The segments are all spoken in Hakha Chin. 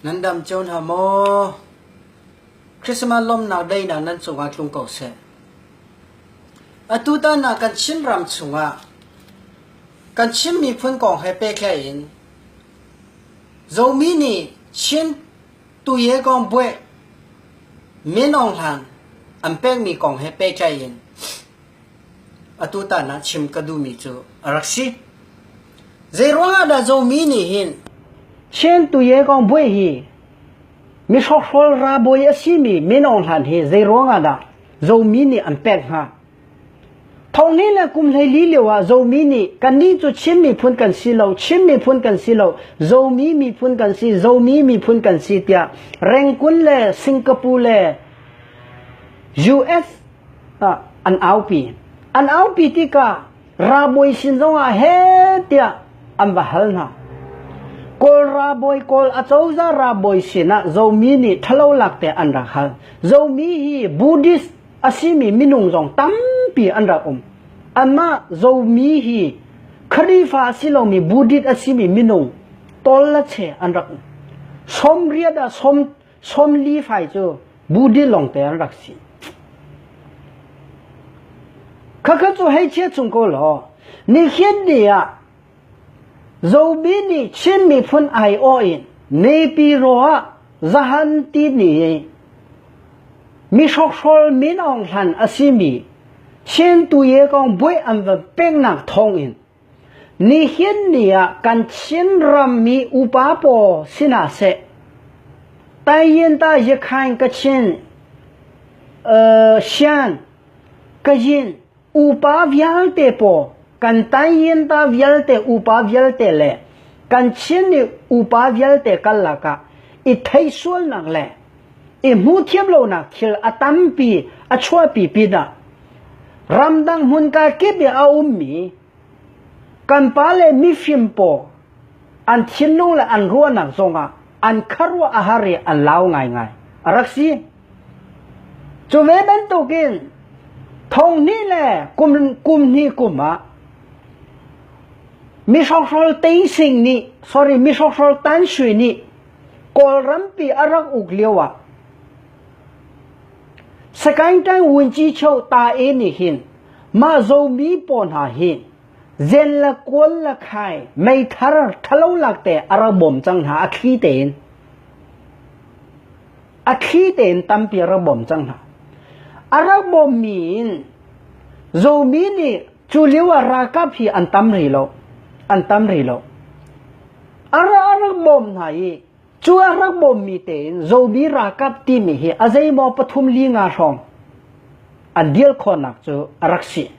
Nan dam cio hna maw? Christmas lawmnak day nak nan cungah tlung ko seh. Atu tan ah kan Chin ram chungah kan Chin miphun kong he pekhlai in Zomi nih Chin tuye kong buai men aung hlan an pekmi kong he pehtlai in Atutan ah chim ka duhmi cu a rak si. Zeiruangah dah Zomi nih hin Siantuye Kongbuai hi mihrokhrol ralbawi a simi min aung hlan hi zeiruangah dah Zomi nih an pek hnga? Thongli le kum hleili lio ah Zomi nih kannih cu Chin miphun kan si lo, Chin miphun kan si lo, Zomi miphun kan si, Zomi miphun kan si tiah Rengkun le Singapore le US an aupi. An aupi tikah ralbawi sin zongah he tiah an va hal hna. Kawl ralbawi kawl a cozah ralbawi sinah zomi nih ṭhalo lakte an rak hal. Zomi hi Buddhist a simi minung zong tampi an rak um. Anmah zomi hi Kharifa a si lomi Buddhist a simi minung tol le che an rak um. Som riat ah som Sawmli fai cu Buddhi lawng te an rak si. Khakha cu hei chia chung ko law, nihin ni ah Zomi nih Chin miphun ai awh in mipi ro ah zahan ti ni mi hrokhrawl min aung hlan a simi Chin tuye kong buai an va pengnak thawng in Nihin ni ah kan Chinram mi upa pawl si hna seh, Taiyintayakhain, Kachin, Shan, Kayin upa vialte pawl, kan Tayinta vialte upa vialte le kan Chin upa vialte karlak ah i theih sualnak le i hmuthiam lonak thil a tampi a chuahpi pinah ramdang hmunka kip i a ummi kan pa le mifim pawl an thinlung le an ruahnak zongah an kharuah a har i an lau ngaingai a rak si cu ve bantukin thonghnih le kum kum hnih kum ah mi hrokhral teising nih sorry mi hrokhral tanshui nih Kawlrampi a rak uk lioah Sakaingtang Vunchicheu ta i nih hin mah zomi pawl hna hi zen le kual le khai meithar ṭhalo lakte a rak bawm cang hna a thli tein a thli tein tampi a rak bawm cang hna a rak bawmmi in zomi nih cu lio ah ralkap hi an tam rih lo an tam rih lo a ra a rak bawm hna i cu a rak bawmmi tein zobi ralkap timi hi a zeimaw pathum li nga hrawng an dil khawnak cu a rak si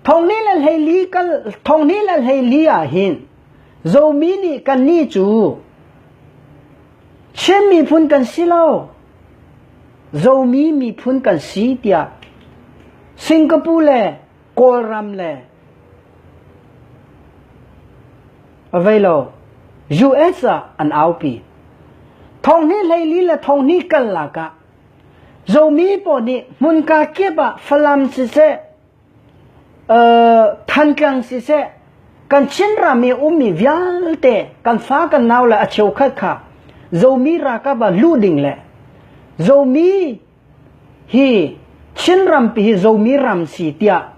thongni le hleili kal thongni le hleili ah hin zomi nih kan ni cu Chin miphun kan si lo zomi miphun kan si tiah Singapore le Kawlram le avei lo US ah an aupi. Thong hi hleili le thong hni kal lak ah zomi pawl nih hmunka kip ah Falam siseh, uh, Thantlang siseh, kan Chin ram i ummi vialte kan fa kan nau le a cheu khat kha zomi rakab ah lu ding le zomi Hi Chinrampi hi zomi ram si tiah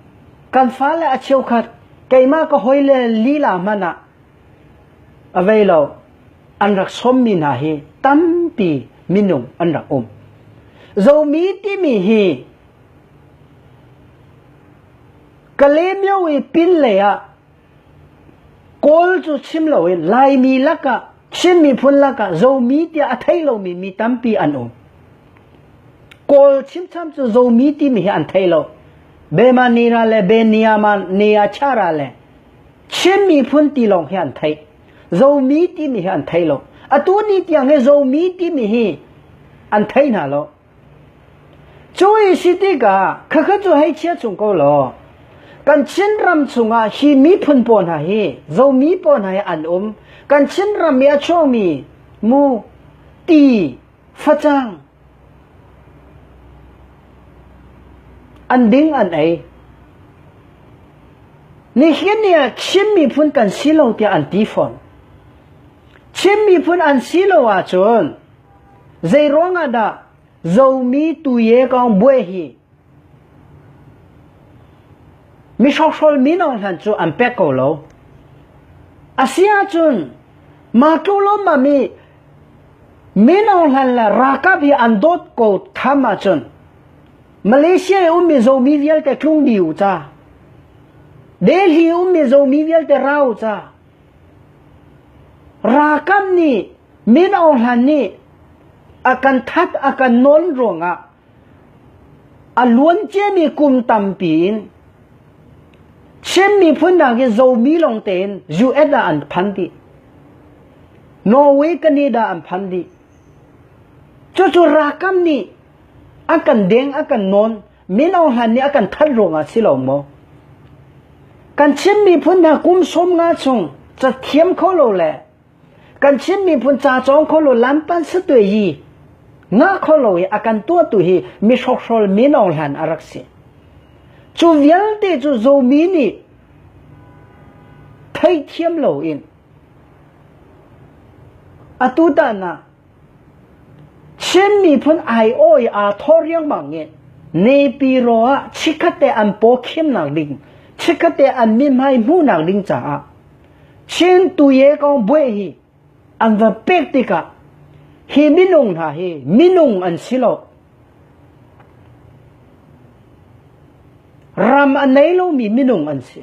kan fale a cheukhat keimah ka hawile lila hmanh ah a vei lo an rak sawmmi hna hi tampi minung an rak um. Zomi timi hi Kalemyo i pin lei ah Kawl cu chim loin Laimi lakah Chin miphun lakah Zomi tiah a thei lomi mi tampi an um. Kawl chimcham cu Zomi timi hi an thei lo. Bemanira le Beniamaniachara le Chin miphun ti lawng hi an thei. Zomi timi hi an thei lo. Atu ni tiang hi Zomi timi hi an thei hna lo. Cu i si tikah khakha cu hei chia chung ko law kan Chinram chungah hi miphun pawl hna hi zomi pawl hna hi an um kan Chinram i a chuakmi mu ti facang an ding an ei nihin ni ah Chin miphun kan si lo tiah an ti fawn Chin miphun an si lo ahcun Zeiruangah dah zomi tuye kong buai hi mi hrokhrawl mi nawng hlan cu an pek ko lo. Asiahcun mah tluk lawmmam i mi nawng hlan le ralkap hi an dawt ko tham ahcun Malaysia i ummi zomi vialte tlung dih u ca. Delhi ummi zomi vialte ra u ca. Ralkap nih min ohlan nih a kan that a kan nawn ruangah a luan ciami kum tampi in Chin miphun nakin zomi lawng tein US ah an phan dih. Norway, Canada an phan dih. Cucu ralkap nih a kan deng, a kan nawn. min ohan nih a kan thanh ruangah si lo maw? Kan Chin miphun hna kum sawm nga chung cathiam kho lo le kan Chin miphun ca cawng kho lo lanpan satue yi nga kho lo i akan tua tu hi mi hrohrol min ohlan a rak si cu vialte cu zomi nih thei thiam lo in atu ta na Shin miphun aiawh i aa thawr riangmang i Nepiro ah chikkhatte an pawkhimnak ding, chikkhatte an mithmai hmuhnak ding caah Chin tuye kong buai hi an va pek tikah hi minung hna hi minung an si lo. Ram a nei lomi minung an si.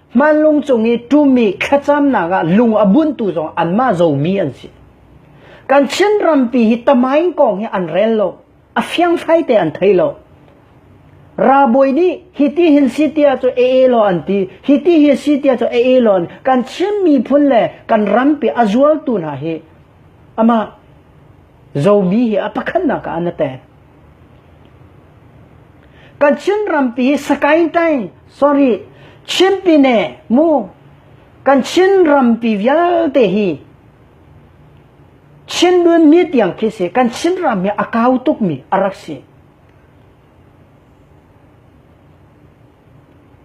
Manlung cung i ṭumi thlacamnak ah lung a buntu zong anmah zomi an si. Kan Chin rampi hi tamain kong hi an rel lo, a fiangfai te an thei lo. Rabawi nih hiti hin si tia cu ee law an ti hiti hi si tia cu ee law an kan Chin miphun le kan rampi a zualtu hna hi ama zomi hi a pakhatnak ah an ate Kan Chin rampi Sakaintain sorry Chinpine mu kan Chin rampi vialte hi Chindun mi tiang khi si kan Chin ram hi a kau tuk mi a rak si.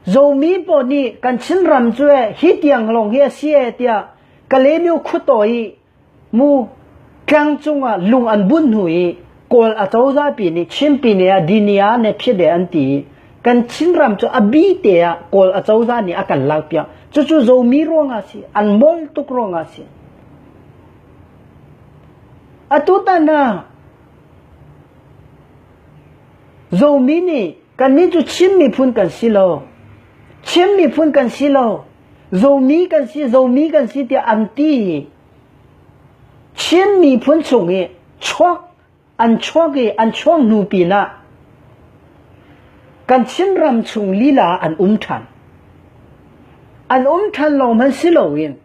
Zomi po nih kan Chin ram cu hi tiang lawng hi a si tiah Kalebio khuto i Mu ṭang cungah lung an bunh hnu i kawl a cozahpi nih chimpine ah Dinia ne phiade an ti i kan Chinram cu a bite ah kawl a cozah nih a kan lakpiak cucu zomi ruangah a si an mol tuk ruangah a si atutan ah zomi nih kannih cu Chin miphun kan si lo Chin miphun kan si lo zomi kan si zomi kan si tiah an ti Chin miphun chung i chuak an chuak i an chuak hnu pinah kan Chin ram chung lila an um ṭhan an um ṭhan lo hman si loin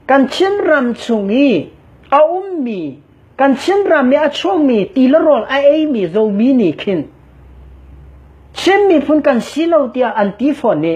kan Chin ram chung i a ummi kan Chin ram i a chuakmi tilarawl a eimi zomi nih khin Chin miphun kan si lo tiah an ti fawn i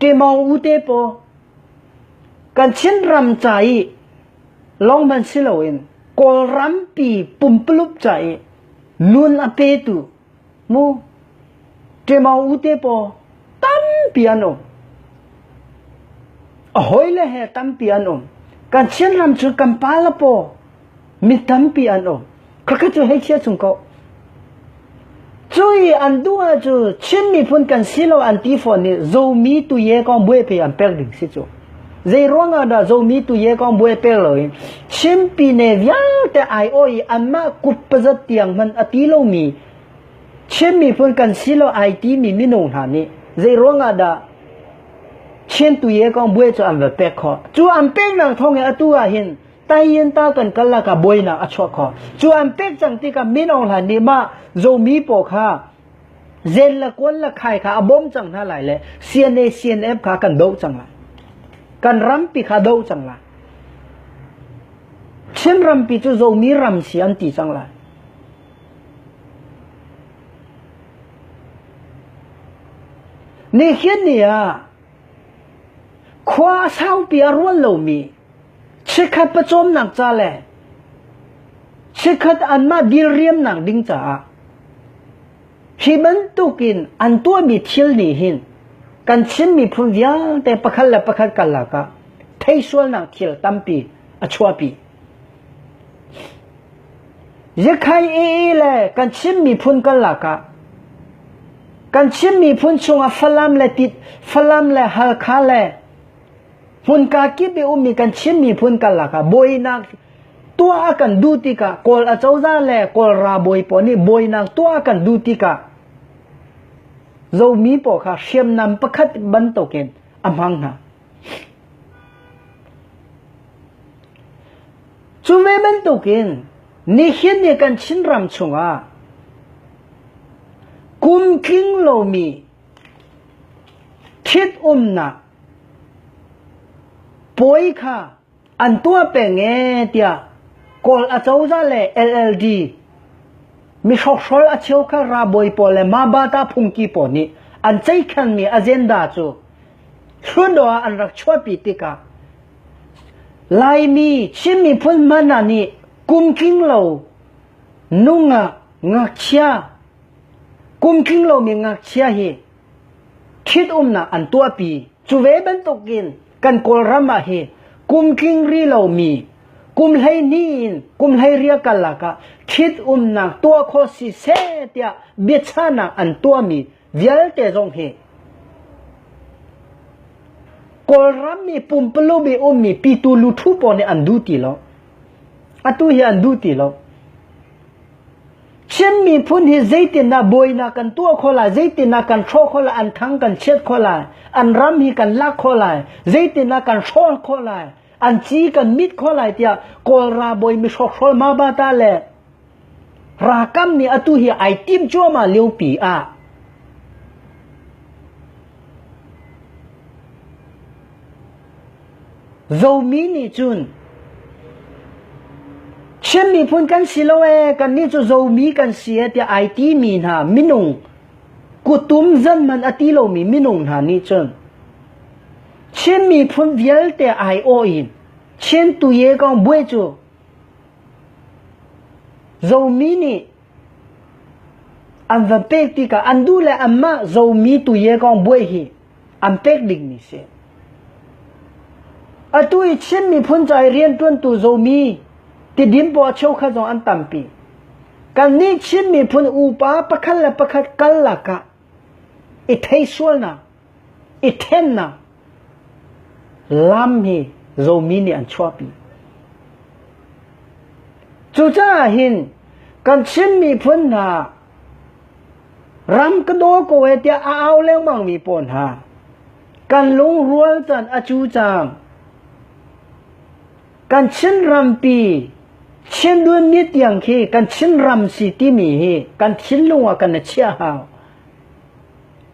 Ṭemawng u te paw kan Chinram ca i lawng hmanh si loin Kawlrampi pumpulup ca i nun a petu mu ṭemawng u te paw tampi an um. A hawile he tampi an um. Kan Chinram cu kan pa le paw Mi tampi an um. Khakha cu hei chia chung ko. Cui an duha cu Chin miphun kan si lo an ti fawn ni zomi tu ye ko bue pe an pek ding si cu. Zei ruangah dah zomi tu ye ko bue pe lo in Chin pi ne vialte ai oi anma kup pazat tiang man ati lomi Chin miphun kan si lo ai ti mi minu hna nih zei ruangah dah Chin tu ye kong bue cu an va pek kho. Cu an pek nang thong e atu ah hin Taiin ta kan kal lakah buainak a chuak kho cu an pek cang tikah min ohlan nih mah zomi paw kha zen la kual la khai kha a bom cang hna lai le CNA CNF kha kan do cang la kan rampi kha do cang la Chin rampi cu zomi ram si an ti cang la ni hin ni ah Khua a saupi a rual lomi chikkhat pawcawmnak ca le chikkhat anmah dilriamnak ding caah hi bantukin an tuahmi thil nih hin kan Chin miphun vialte pakhat le pakhat karlak ah theisualnak thil tampi a chuahpi. Yakhai ee le kan Chin miphun karlak ah kan Chin miphun chungah Falam le Tit Falam le Halkha le hmunka kip i ummi kan Chin miphun karlak ah buainak tuah a kan duh tikah Kawl acoza le Kawlra bawi pawl nih buainak tuah a kan duh tikah Zomi pawl kha hriamnam pakhat bantukin a hmang hna. Cu ve bantukin nihin ni kan Chinram chungah kum tling lomi thit umnak puai kha an tuah peng ee tiah Kawl acozah le LLD mihrokhrawl a cheukhat ralbawi pawl le mabata phungki pawl nih an ceikhanmi agenda cu hlundaw ah an rak chuahpi tikah Laimi Chin miphun hmanh hna nih kumtling lo nungak ngakchia kumtling lomi ngakchia hi Ṭhitumnak an tuahpi. Cu ve bantukin kan Kawlram ah hi kum tling ri lomi kum hleihnih in kum hleirial karlak ah ṭhitumnak tuah khawh si seh tiah biachahnak an tuahmi vialte zong hi Kawlram mi pumpaluk i ummi pitu luthu pawl nih an duh ti lo. Atu hi an duh ti lo. Chin miphun hi zeitindah buainak kan tuah kho lai, zeitindah kan hrawh kho lai, an thang kan chiat kho lai, an ram hi kan lak kho lai, zeitindah kan hrawl kho lai, an ci kan mit kho lai tiah Kawlra bawi mi hrawkhrol ma ba ta le rakam nih atu hi ai tim cuahmah liopi ah Zomi nih cun Chin miphun kan si lo ee, kannih cu zomi kan si ee tiah ai timi hna minung kutum zanman a ti lomi minung hna nih cun Chin miphun vialte ai awh in Chin tuye kong buai cu zomi nih an van pek tikah an duh le anmah zomi tuye kong buai hi an pek dingmi si. Atu i Chin miphun ca i riantuantu zomi tidim paw cheukhat zong an tampi. Kan nih Chin miphun upa pakhat le pakhat kal lakah i theisualnak, i thennak, lam hi zomi nih an chuahpi. Cucaah hin kan Chin miphun hna Ram ka daw ko e tiah a au lengmangmi pawl hna kan lungrual can a cu cang. Kan Chinrampi Chinduan mi tiang khi kan Chinram si timi hi kan thinlung ah kan a chiah hau.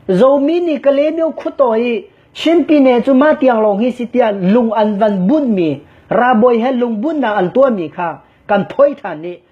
Zomi nih Kalebio khuto i Chinpine cu ma tiang lawng hi si tiah lung an van bunhmi rabawi he lungbunh nak an tuahmi kha kan phoi than i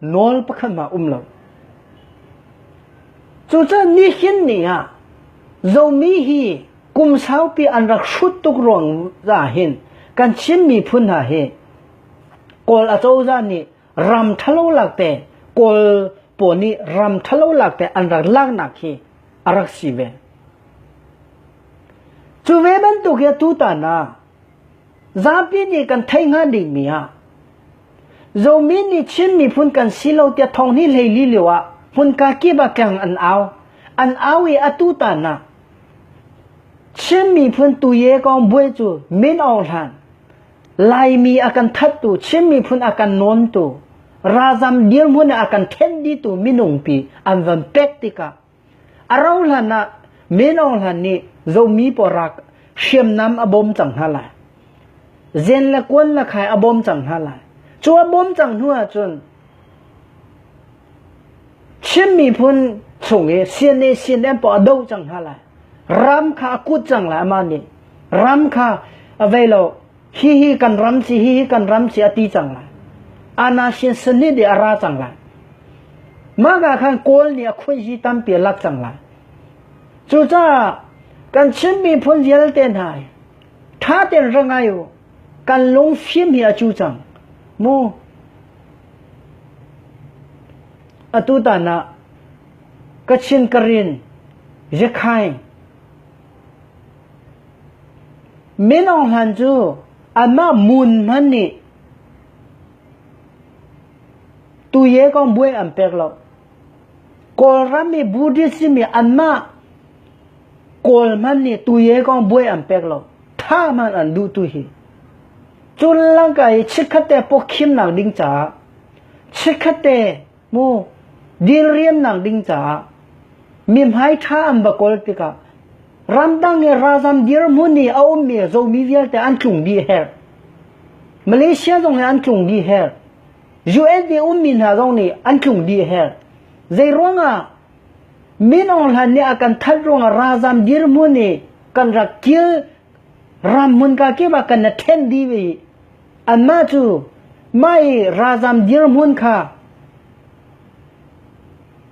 nawl pakhat mah um lo. Cucun nihin ni ah zomi hi kum saupi an rak hrut tuk ruang za hin kan Chin miphun hna hi kawl acoza nih ram thalo lak te kawl pawl nih ram thalo lak te an rak lak nak hi a rak si ve. Cu ve bantuk ya tu ta na Zapi nih kan theih hnga dihmi ah Zomi nih Chin miphun kan si lo tiah thawng hi hleili lio ah hmunka kip ah keng an au. An au i atu tanak Chin miphun tuye kong buai cu min ohlan Laimi a kan thattu Chin miphun a kan nawntu ralzam dirhmun a kan then ditu minung pi an van pek tikah A rohlan ah men ohlan nih zomi pawl rak hriamnam a bawm cang hna lai. Zen le kuan le khai a bawm cang hna lai. Cu a bawm cang hnu ahcun Chin miphun chung i CNA CNM pawl a do cang hna lai. Ram kha a kut cang lai amah nih. Ram kha avei lo hihi kan ram ci hihi kan ram ci a ti cang lai ana sin sin ni de a ra cang lai maga khan kawl ni a khun hi tampi lak cang lai cucaah kan chin miphun vialte hna tha ten rangai u kan lung phim hi a chu cang mu atu tana kachin karin yekhai Minung hlan cu anmah mun hmanh nih tuye kong buai an pek lo. Kawlram i Buddhist simi anmah Kawl hmanh nih tuye kong buai an pek lo. Tha hmanh an duh tu hi. Cun langka i chikkhatte pawkhimnak ding caah chikkhatte mu dil riamnak ding caah mihmai ṭha an va kawl tikah ramdang i ralzam dirhmun i a ummi zomi vialte an tlung dih her malaysia zong hi an tlung dih her US i ummi hna zong nih an tlung dih her zeiruangah min aung hlan nih a kan that ruangah ralzam dirhmun i kan rak kil ram mun ka kip ah kan na ṭhen dih ve Anmah cu mah i ralzam dirhmun kha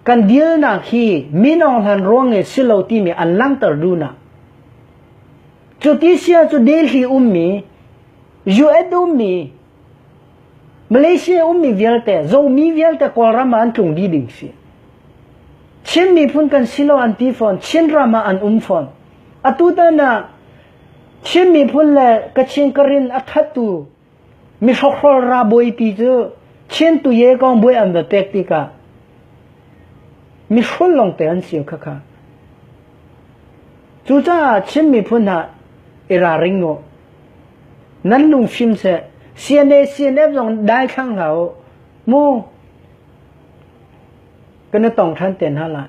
kan dilnak hi min ohlan ruang e si lo timi an langhter dunak cuti sia cu Delhi ummi US ummi Malaysia ummi vialte zomi vialte Kawlram ah an tlung dih ding si Chin miphun kan si lo an ti fawn Chin ram ah an um fawn atu tanak Chin miphun le Kachin ka rin a thattu mihrokhrol ra buaipi cu Chin tuye kong buai an va pek tikah mihrul longte an si khakha. Cucaah Chin miphun ha i raring u. Nan lung fim seh. CNA CNF zong dai thlang hlah u. Mu kana tong than te hna lai.